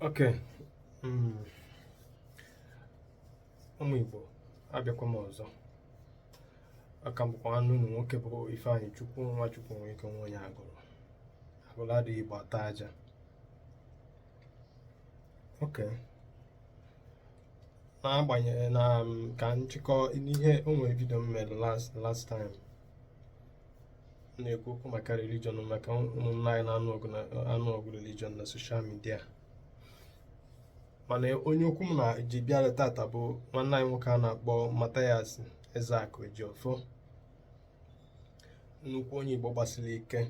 Okay. Mm. ụmụ Igbo abịakwa m ọzọ a ka m bụkwa nwanne unu nwoke bụ Ifeanyịchukwu Nwachukwu nwe ike nwa onye agụrụ agụrụ adịghị Igbo ata aja okay n'agbanyeghị na mm, ka nchịkọ ihe o nwere vidio m mere last time na-ekwu okwu maka religion maka ụmụnna anyị na-anụ ọgụ na-anụ ọgụ religion na soshal midia mana onye okwu m na ji bịara tata bụ nwanne anyị nwoke a na-akpọ Mathias Ezeaku Ejiofor nnukwu onye Igbo gbasiri ike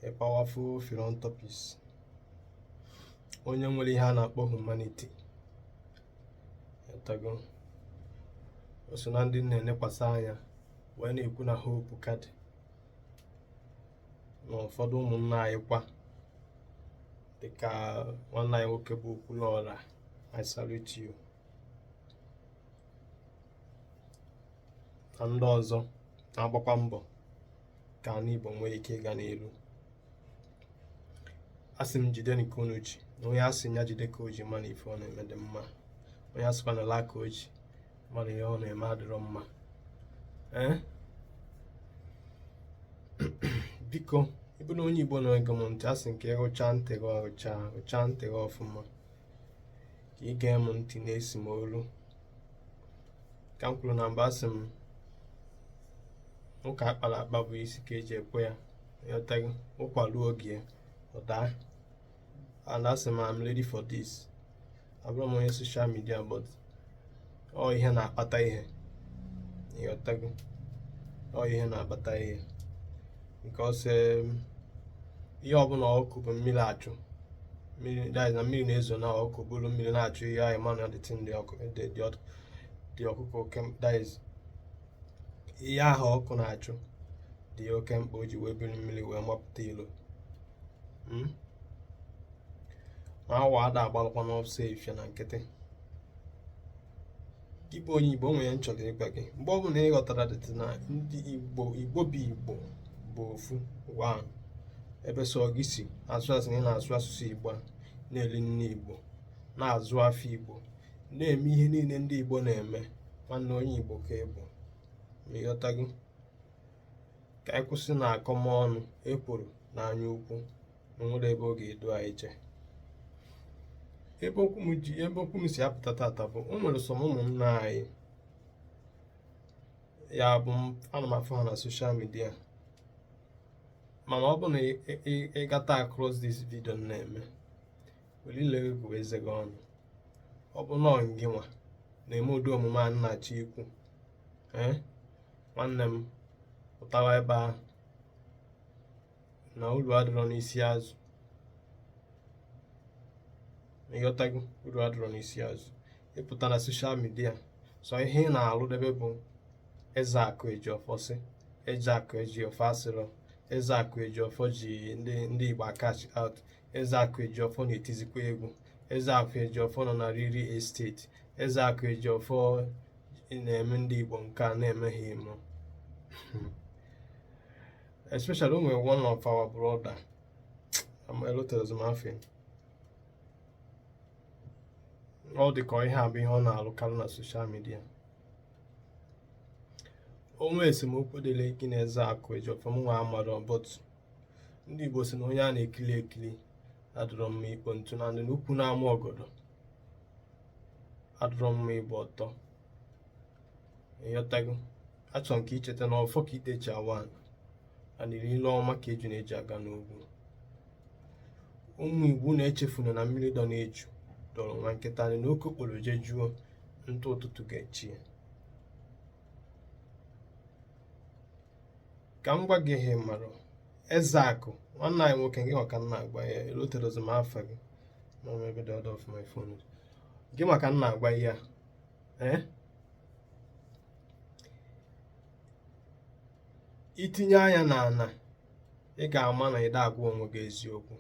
a powerful philanthropist onye nwere ihe a na-akpọ humanity ịghọtago o so na ndị m na-elekwasị anya wee na-ekwu na hope ka dị n'ụfọdụ ụmụnna anyị kwa dịka nwanne anyị nwoke bụ Okwuluọra I salute you na ndị ọzọ na-agbakwa mbọ ka ala Igbo nwee ike ịga n'iru asị m jidenụ ka unu ji na onye asị ya jide ka o ji ma na ife ọ na-eme dị mma onye asịkwanụ laa ka o ji ma na ihe ọ na-eme adịrọ mma eh? biko ị bụrụ onye igbo na-ege m ntị asị m ka ị rụcha ntị gị ọrụcha rụcha ntị gị ọfụma ka ị gee m ntị na-esi m olu ka m kwuru na mbụ asị m ụka akpara akpa bụ isi ka eji ekwe ya ịghọtago ụkwa ruo oge ya ọ daa and asị m I'm ready for this abụrọ m onye soshal midia but ọ ihe na-akpata ihe ịghọtago ọ ihe na-akpata ihe nke ọsọ um, ihe ọbụla ọkụkọ bu mmiri achụ mmiri na mmiri na-ezo na ọkụkọ buru mmiri na-achụ ihe ị ma na that thing ọkụkọ that is ihe ahụ ọkụkọ na-achụ dị oke mkpa o ji wee buru mmiri wee mapụta ilo hmm? awọ ada agbalụkwanụ ọsọ efifie na nkịtị gị bụ onye igbo nwere ihe m chọrọ ịgwa gị mgbe ọbụla ị ghọtara that thing na ndị igbo igbo bụ igbo bụ ofu ụwa ebe sọ gị si as far as na ị na-asụ asụsụ igbo na-eli nni igbo na-aza afa igbo na-eme ihe niile ndị igbo na-eme nwanne onye igbo ka ị bụ ma ịghọtago ka anyị kwụsịnụ akọmọnụ ekworo na anya ukwu onwere ebe ọ ga-edu anyị jee ebe okwu m ji ebe okwu m si apụta tata bụ o nwere some ụmụnna anyị ya bụ ana m afụ ha na social media mana ọ bụ na ị gata across this video na-eme welu ile gụọ eze gị ọnụ ọ bụ na ọ gị nwa na-eme ụdị omume a m na-achọ ikwu ee nwanne m pụtawa ebe ahụ na uru adịrọ n'isi azụ ịghọtago uru adịrọ n'isi azụ ịpụta na social media sọ ihe ị na-alụ debe bụ ezeakụ ejiọfọ sị ezeakụ ejiọfọ asịrọ ezeakụ ejiọfọ ji ndị ndị igbo a cash out ezeakụ ejiọfọ na-etizikwa egwu ezeakụ ejiọfọ nọ na real estate ezeakụ ejiọfọ na-eme ndị igbo nke a na-emeghị emo especially onwere one of our brother ama elotezi m afa ya ọ dị ka ihe a bụ ihe ọ na-alụkarị na social media onwe esemokwu dịlị gị na ezeakụ ejiọfọ mụ nwa amarọ but ndị igbo si na onye a na-ekili ekili adụrọ mma ikpo ntụ and na ukwu na-ama ọgọdọ adụrọ mma ịgba ọtọ ịghọtago achọ m ka i cheta na ọfọ ka ide ji awa anị ile ọma ka ejune ji aga n'ogwu ụmụ igbo na-echefuna na mmiri dọ n'eju dọrọ nwa nkịta anyị na oke okporo je juo ntụ ụtụtụ ga-echi ya ka m gwa gị ihe mara ezeakụ nwanne anyị nwoke gị nwa ka m na-agwa ya eloterozi m afa gị n'ọrụ ebe dị ọdọ ọfụma ifonu gị nwa ka m na-agwa ya eh? itinye anya n'ana ị ga-ama na ị da agwa onwe gị eziokwu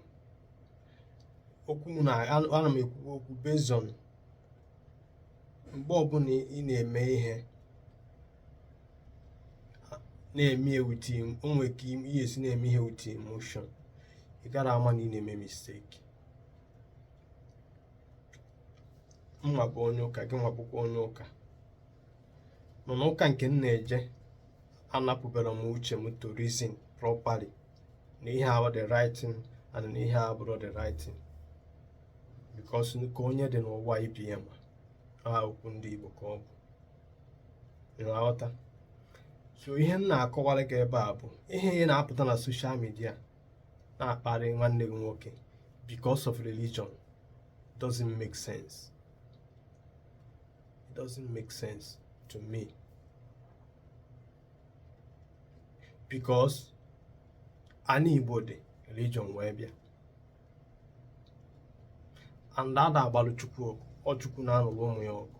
okwu m na ana m ekwu okwu based on mgbe ọbụla ị na-eme ihe na-eme ya with onwe ka ihe esi na-eme ihe with emotion ị gara ama na ị na-eme mistake mụ nwa bụ onye ụka gị nwa bụkwa onye ụka mana ụka nke m na-eje anapụberọ m uche m to reason properly na ihe a bụ the right thing and na ihe a abụrọ the right thing because ka onye dị n'ụwa ibe ya ma aha okwu ndị Igbo ka ọ bụ ịghọta so ihe m na-akọwara gị ebe a bụ ihe ị na-apụta na social media na-akparị nwanne gị nwoke because of religion it doesn't make sense it doesn't make sense to me because ana Igbo dị religion wee bịa and ada agbalụ Chukwu ọgụ ọ Chukwu na-alụrụ ụmụ ya ọgụ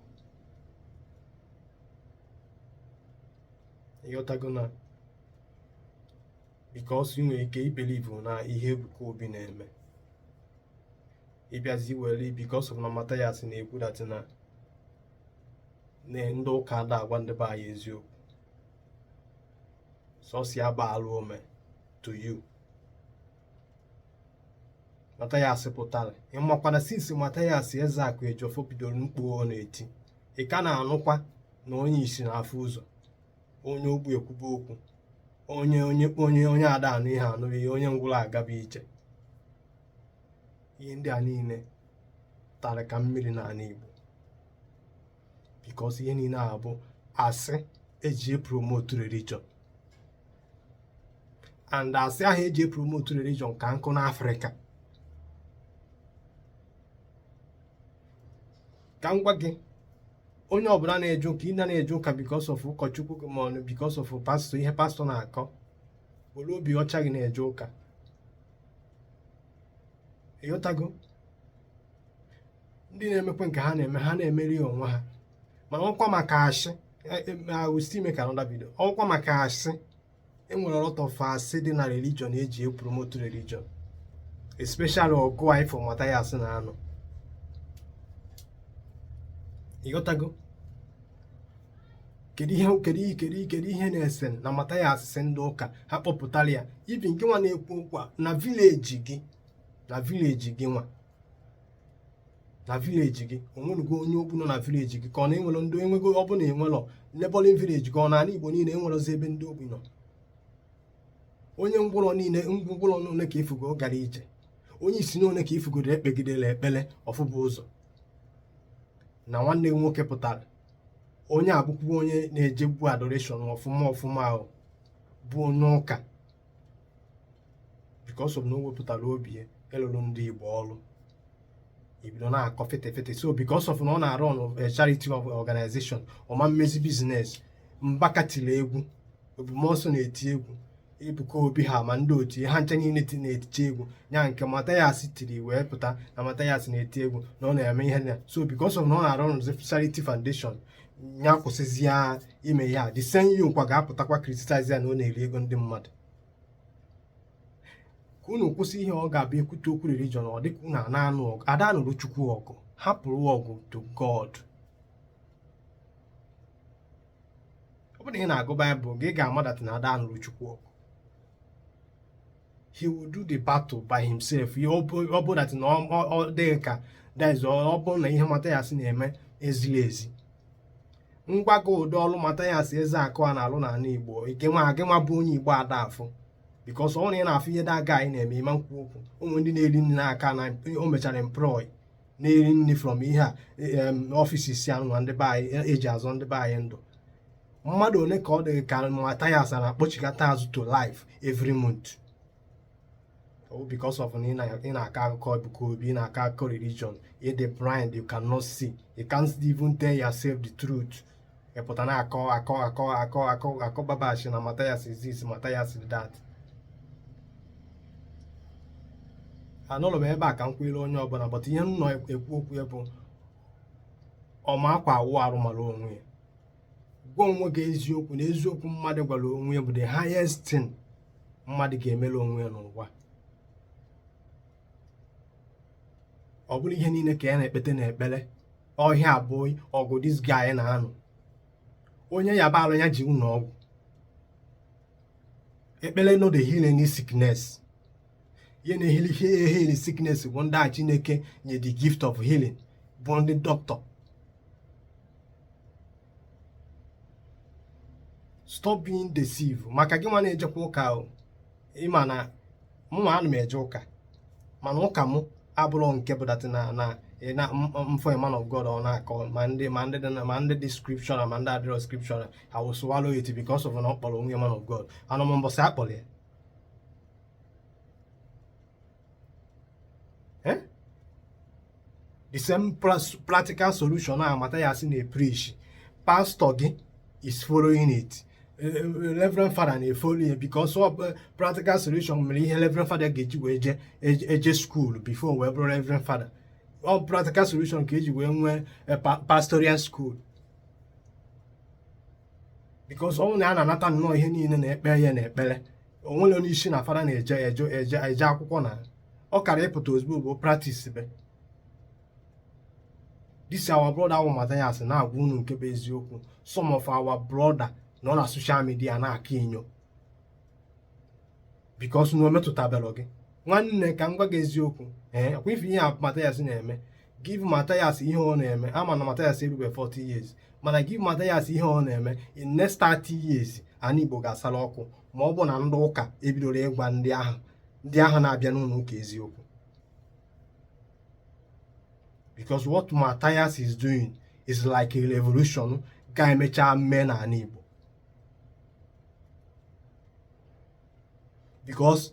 ịghọtago na because ị nwere ike ibelivu na ihe Ebuka Obi na-eme ịbịazi were because of na Mathias na-ekwu that na ndị ụka ada agwa ndị be anyị eziokwu sọsọ ya bụ alụ o me to you Mathias pụtara ị makwa na since Mathias Ezeaku Ejiofor bidoro mkpu ọ na-eti ị ka na-anụkwa na onye isi na-afụ ụzọ onye ogbi ekwube okwu onye onye onye onye ada anụ ihe anụrụ ihe onye ngwụrọ agaba ije ihe ndị a niile tara ka mmiri n'ala Igbo because ihe niile a bụ asị eji epromotu religion and asị ahụ eji epromotu religion ka nkụ n'Afrịka ka m gwa gị onye ọbụla na-eje ụka ị na na-eje ụka because of ụkọchukwu gị ma ọ bụ because of pastọ ihe pastọ na-akọ were obi ọcha gị na-eje ụka ịghọtago ndị na-emekwa nke ha na-eme ha na-emeri onwe ha ma ọkwa maka asị awụsi e, e, ime ka anọda bido ọkwa maka asị enwere a lot of asị dị na religion eji epromote religion especially ọgụ a ị fụ Mathias na-anụ ịghọtago kedu ihe kedu ihe kedu kedu ihe na-ese na Mathias sị ndị ụka ha kpọpụtara ya even gị nwa na-ekwu okwu a na village gị na village gị nwa na village gị onwenugo onye ogbi nọ na village gị ka ọ na enwerọ ndị ngwụrọ ọ bụla enwelọ neighbouring village gị ọ n'ala Igbo niile enwerọzi ebe ndị ogbi nọ onye ngwụrọ niile ngwụrọ ole ka ifugo gara ije onye isi ole ka ifugodoro ekpegidere ekpere ọ fụba ụzọ na nwanne gị nwoke pụtara onye a bụkwa onye na-ejegbu adoration ọfụma ọfụma ahụ bụ onye ụka because of na o wepụtara obi ya ịlụrụ ndị Igbo ọrụ ibido na-akọ fete fete so because of na ọ na-arun eh, charity organization ọ ma mezi business Mbaka tiri egwu Ebube Muonso na-eti egwu Ebuka Obi ha ma ndị otu ha ncha niile ti na-etiti egwu ya nke Mathias tiri wee pụta na Mathias na-eti egwu na ọ na-eme ihe na so because of na ọ na-arụ ọrụ Charity Foundation ya kwụsịzi ya ime ya the same you kwa ga-apụtakwa criticize ya na ọ na-eri ego ndị mmadụ ka unu kwụsị ihe ọ ga-abụ ekwute okwu religion ọ dịka unu ana anụ ọgụ ada anụrụ Chukwu ọgụ hapụrụ ọgụ to God ọ bụrụ na ị na-agụ baịbụl gị ga-ama that na ada anụrụ chukwu ọgụ he will do the battle by himself ihe ọ bụrụ that na ọ dị gị ka that is ọ bụrụ na ihe Mathias na-eme ezihi ezi ngwa gị ụdị ọrụ Mathias Ezeaku a na-alụ n'ala igbo ike nwa gị nwa bụ onye igbo ada afụ because ọ bụ na ị na-afụ ihe that guy na-eme ịma nkwu okwu ụmụ ndị na-eri nri n'aka na o mechara employ na-eri nri from ihe a ọfịs isi anụ na ndị be anyị eji e azọ ndị be anyị ndụ mmadụ ole ka ọ dị gị ka Mathias a na-akpọchighata azụ to life every month oh, because of na ị na-akọ akụkọ Ebuka Obi ị na-akọ akụkọ religion ịdị blind you cannot see you can't even tell yourself the truth ịpụta na-akọ akọ akọ akọ akọ akọ babashi na Mathias this Mathias that anụrụ m ebe a ka m kwere onye ọbụla but ihe m nọ ekwu okwu ya bụ ọma akwa awụ arụ mara onwe ya gwa onwe gị eziokwu na eziokwu mmadụ gwara onwe ya bụ the highest thing mmadụ ga-emere onwe ya n'ụwa ọ bụrọ ihe niile ka ya na-ekpete na ekpere ihe a bụ ọgụ this guy na-anụ onye yaba arụ ya jee ụlọ ọgwụ ekpere no dey heal any sickness ihe na-ehili ihe ehili sickness bụ ndị ahụ chineke nye the gift of healing bụ ndị dọkịta stop being deceived maka gị nwa na-ejekwa ụka ahụ ịma na mụnwa ana m eje ụka mana ụka m abụrọ nke bụ that na na na m fụ man of God ọ na-akọ ma ndị ma ndị dị ma ndị dị scripture ma ndị adịrọ scripture I will swallow it because of na ọ kpọrọ onwe man of God anọ m mbọsị akpọrọ ya eh? the same practical solution a Mathias na-epreach pastor gị is following it eh, eh, reverend father na-efolo ya because ọ practical solution mere ihe reverend father ga-eji wee je eje school before wee bụrụ reverend father ọ practical solution ka eji wee nwee eh, pastoral school because ọnwụ na ya na-anata nnọọ ihe niile na-ekpe ya na ekpere onwere onye sị na fada na-eje eje eje eje akwụkwọ na ọ kara ịpụta ozugbo ọ bụ practice but this our brother bụ Mathias na-agwa unu nke bụ eziokwu some of our brother nọ na social media na-akọ inyo because na o metụtaberọ gị nwanne ka m gwa gị eziokwu ee ọkwa ị fụ ihe a Mathias na-eme give Matthias ihe ọ na-eme ama na Matthias erube 40 years mana give Matthias ihe ọ na-eme in next 30 years ana Igbo ga-asala ọkụ ma ọ bụ na ndị ụka ebidoro ịgwa ndị ahụ ndị ahụ na-abịa n'ụnọ ụka eziokwu because what Matthias is doing is like a revolution ga-emecha mee n'ana Igbo because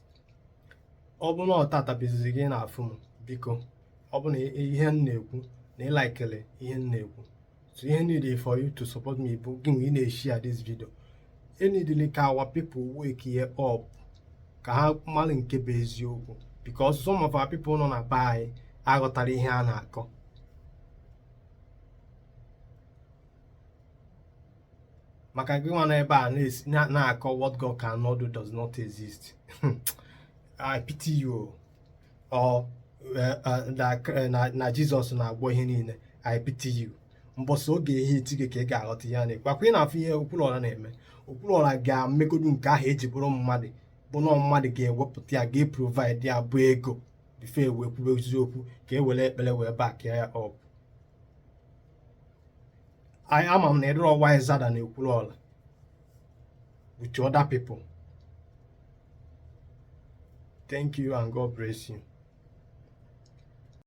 ọ bụrụ na ọ taata bụ izizi gị ị na-afụ m biko ọ bụrụ na ihe m na-ekwu na ị likelụ ihe m na-ekwu so ihe m needịlị for you to support me bụ gịnwa ị na-eshare this video e needịlị ka our people wakie up ka ha mara nke bụ eziokwu because some of our people nọ na be anyị aghọtara ihe a na-akọ maka gị nwa nọ ebe a na-akọ what God cannot do does not exist I pity you or eh, eh, eh, na Jizọs na-agwọ ihe niile I pity you mbọsị ọ ga-ehiti gị ka ị ga-aghọta ihe a na-ekwu ọkwa ị na-afụ ihe Okwuluọra na-eme Okwuluọra ga-emegodu nke ahụ eji bụrụ mmadụ bụ na mmadụ ga-ewepụta ya ga-eprovide ya bụ ego before e wee kwubezie okwu ka e were ekpere wee back ya up anyị ama m na ị dịrọ wiser than Okwuluọra with other people thank you and god bless you